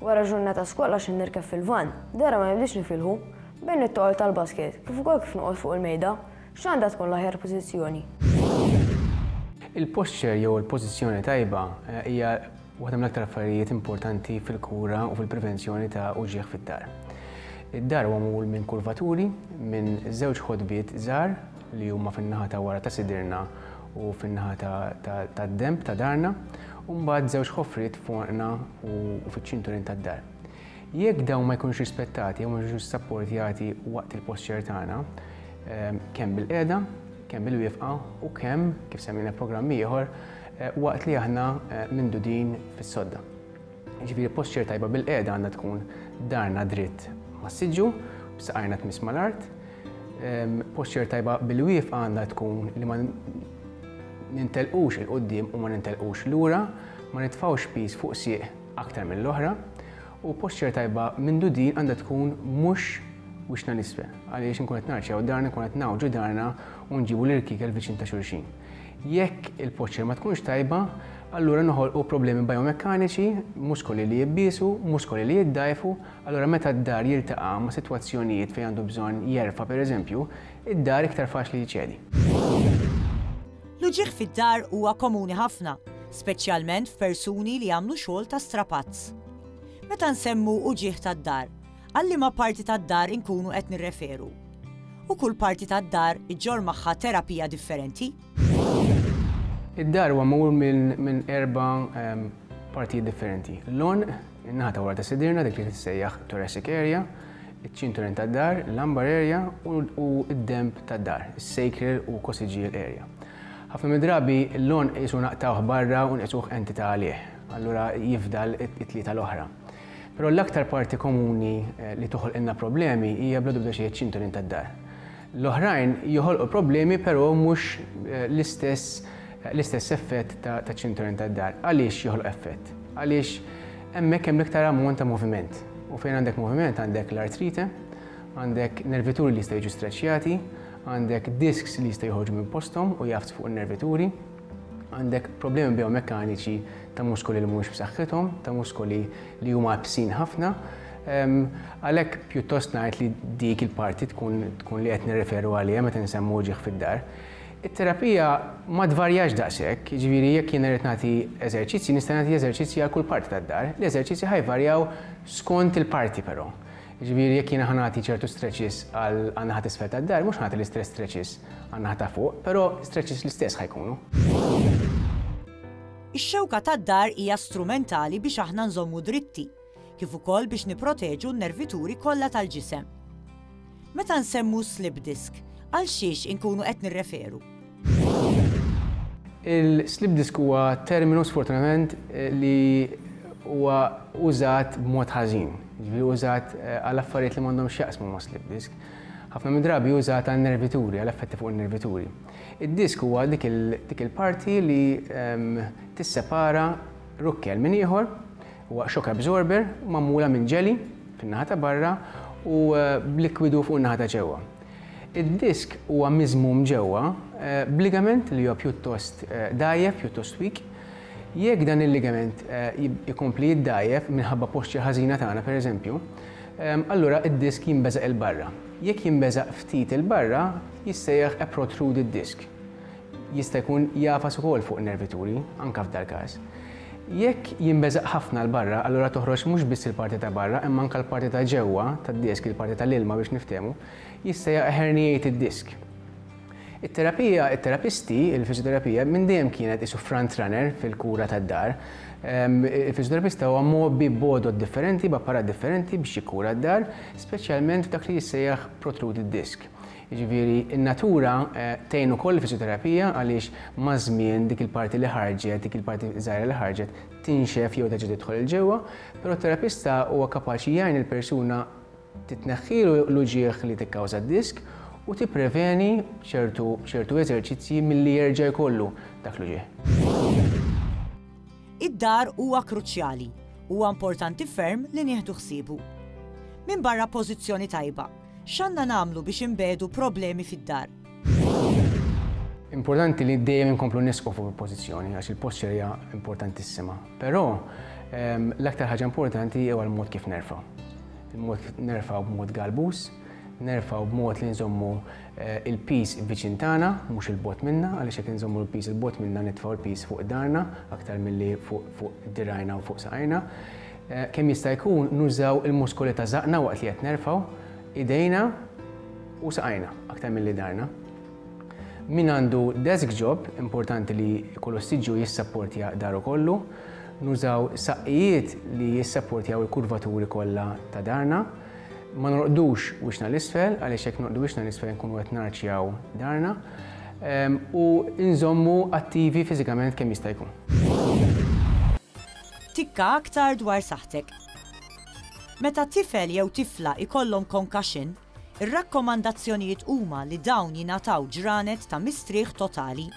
Wara ġurnata skola xi nirkeb fil-vann, dehra ma nibdiex nifilħu, bejn it-toqol tal-basket, kif ukoll kif noqgħod fuq il-mejda, x'għandha tkun l-aħjar pożizzjoni? Il-posture jew il-pożizzjoni tajba hija waħda mill-aktar affarijiet importanti fil-kura u fil-prevenzjoni ta' uġigħ fid-dar. Id-dar huwa magħmul minn kurvaturi, minn żewġ ħodbiet żgħar li huma fin-naħa ta' wara ta' sidirna u fin-naħa tad-denb ta' darna, u mbagħad żewġ ħofriet foqna u fiċ-ċinturin tad-dar. Jekk dawn ma jkunux rispettati jew ma jiġux sapportjati waqt il-posċer tagħna, ehm, kemm bil-qiegħda, kemm bil-wifqa u kemm, kif semmina programm ieħor, eh, waqt li aħna eh, mindudin fis-sodda. Jiġifieri posture tajba bil-qiegħda għandha tkun darna dritt mas-siġġu, b'saqajna tmiss mal-art. Posture tajba bil-wieqfa għandha tkun li ma nintelqux il quddiem u ma nintelqux lura, ma nitfgħux piż fuq sieq aktar mill-oħra. U posture tajba minn din għandha tkun mhux wiċċna l-isfel, għaliex inkun qed narċew darna, nkun qed ngħawġu darna u nġibu l-irkiekel viċin ta' xulxin. Jekk il-poċċer ma tkunx tajba, allura noħolqu problemi bijomekkaniċi, muskoli li jibbiesu, muskoli li jiddgħajfu, allura meta d-dar jiltaqa' ma' sitwazzjonijiet fejn għandu bżonn jerfa' pereżempju, id-dar iktar faċli jċedi. L-uġigħ fid-dar huwa komuni ħafna, speċjalment f'persuni li jagħmlu xogħol ta' strapazz. Meta nsemmu uġigħ tad-dar, Għal liema parti tad-dar inkunu qed nirreferu? U kull parti tad-dar iġġorr magħha terapija differenti? Id-dar huwa magħmul minn erba' partijiet differenti. L-għonq, in-naħa ta' wara ta' sidirna dik li tissejjaħ thoracic area, iċ-ċinturin tad-dar, lumbar area u d-denb tad-dar, is-sacral u coccygeal area. Ħafna mid-drabi l-għonq qisu naqtgħuh barra u nqisuh entità għalih, allura jifdal it-tlieta l-oħra. Però l-aktar parti komuni li toħolqilna problemi hija bla dubda xejn iċ-ċinturin tad-dar. L-oħrajn joħolqu problemi però mhux l-istess l-istess effett taċ-ċinturin tad-dar. Għaliex joħloq effett? Għaliex hemmhekk hemm l-iktar ammont ta' moviment. U fejn għandek moviment għandek l-artrite, għandek nervituri li jistgħu jiġu streċjati, għandek disks li jistgħu joħorġu minn posthom u jgħaffs fuq in-nervituri. Għandek problemi biomekkaniċi ta' muskoli li mhumiex b'saħħithom, ta' muskoli li huma bsin ħafna, Għalhekk pjuttost ngħid li dik il-parti tkun tkun li qed nirreferu għaliha meta nsemmu ġieħ fid-dar. It-terapija ma tvarjax daqshekk, jiġifieri jekk jien irid nagħti eżerċizzji nista' nagħti eżerċizzji għal kull parti tad-dar, l-eżerċizzji ħajvarjaw skont il-parti però. Jiġifieri jekk jiena ħa nagħti ċertu stretches għal għan-naħa t'isfel tad-dar, mhux ħa nagħti l-istess stretches għan-naħa ta' fuq, però stretches l-istess ħa jkunu. Ix-xewka tad-dar hija strumentali biex aħna nżommu dritti, kif ukoll biex nipproteġu n-nervituri kollha tal-ġisem. Meta nsemmu slip disc, għal xiex inkunu qed nirreferu? Il-slip disk huwa terminu sfortunatament li huwa użat b'mod ħażin, ġifieri użat eh, għal affarijiet li m'għandhomx jaqsmu ma' slip disk. Ħafna mid-drabi użat għal nervituri, għal effetti fuq in-nervituri. Id-disk huwa dik il-parti li ehm, tissepara rukkel minn ieħor, huwa shock absorber, magħmula minn ġeli fin-naħa ta' barra u eh, b'likwidu fuq in-naħa ta' ġewwa. Id-disk huwa miżmum ġewwa b'ligament li huwa pjuttost dgħajjef, pjuttost weak. Jekk dan il-ligament ikompli jiddgħajjef minħabba posture ħażina tagħna pereżempju, allura d-disk jinbeżaq 'il barra. Jekk jinbeżaq ftit 'il barra, jissejjaħ a protruded disk. Jista' jkun jagħfas ukoll fuq nervituri, anke f'dal-każ. Jekk jinbeżaq ħafna 'l barra, allura toħroġ mhux biss il-parti ta' barra imma anke l-parti ta' ġewwa tad-disk, il-parti ta' l-ilma biex niftehmu, jista' jaqa' herniate id-disk. It-terapija, it-terapisti, il-fiżjoterapija minn dejjem kienet qisu front runner fil-kura tad-dar. Il-fiżjoterapista huwa mgħobbi b'għodod differenti, b'apparat differenti biex jikkura d-dar, speċjalment f'dak li jissejjaħ protruded disc. Jiġifieri n-natura tgħin ukoll il-fiżjoterapija għaliex maż-żmien dik il-parti li ħarġet, dik il-parti żgħira li ħarġet tinxef jew terġa' tidħol 'il ġewwa, però t-terapista huwa kapaċi jgħin lill-persuna titneħħilu l-uġigħ li tikkawża d-disk u tippreveni b'ċertu b'ċertu eżerċizzji milli jerġa' jkollu dak l-uġigħ. Id-dar huwa kruċjali, huwa importanti ferm li nieħdu ħsiebu. Minbarra pożizzjoni tajba, X'għandna nagħmlu biex inbegħdu problemi fid-dar? Importanti li dejjem inkomplu nisqu fuq il-pożizzjoni għax il-posture hija importantissima. Però ehm, l-aktar ħaġa importanti huwa l-mod kif nerfa'. Il-mod kif nerfa' b'mod galbus, nerfa' b'mod li nżommu eh, il-pis viċin tagħna, mhux il-bot minna, għaliex jekk nżommu l-pis il-bot minna nitfgħu l-pis fuq darna aktar milli fuq dirajna u fuq saqajna. Kemm jista' jkun nużaw il-muskoli ta' żaqqna waqt li qed nerfgħu idejna u saqajna aktar milli dharna. Min għandu desk job, importanti li jkollu siġġu jissapportja daru kollu. Nużaw saqqijiet li jissapportjaw il-kurvaturi kollha ta' dharna. Ma norqdux wiċċna l-isfel għaliex jekk norqdu wiċċna l-isfel nkunu qed narċjaw dharna. Ehm, u nżommu attivi fiżikament kemm jista' jkun. Tikka aktar dwar saħħtek. Meta tifel jew tifla jkollhom concussion, ir-rakkomandazzjonijiet huma li dawn jingħataw ġranet ta' mistrieħ totali.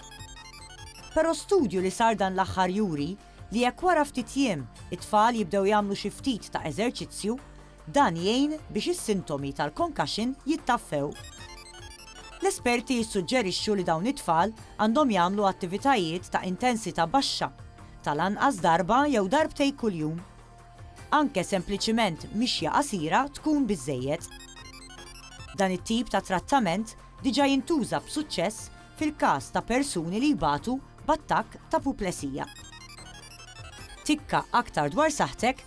Però studju li sar dan l-aħħar juri li jekk wara ftit jiem it-tfal jibdew jagħmlu xi ftit ta' eżerċizzju, dan jgħin biex is-sintomi tal-concussion jittaffew. L-esperti jissuġġerixxu li dawn it-tfal għandhom jagħmlu attivitajiet ta' intensità baxxa, tal-anqas darba jew darbtej kuljum. Anke sempliċiment mixja qasira tkun biżżejjed. Dan it-tip ta' trattament diġà jintuża b'suċċess fil-każ ta' persuni li jbatu b'attakk t'apuplesija. Tikka aktar dwar saħħtek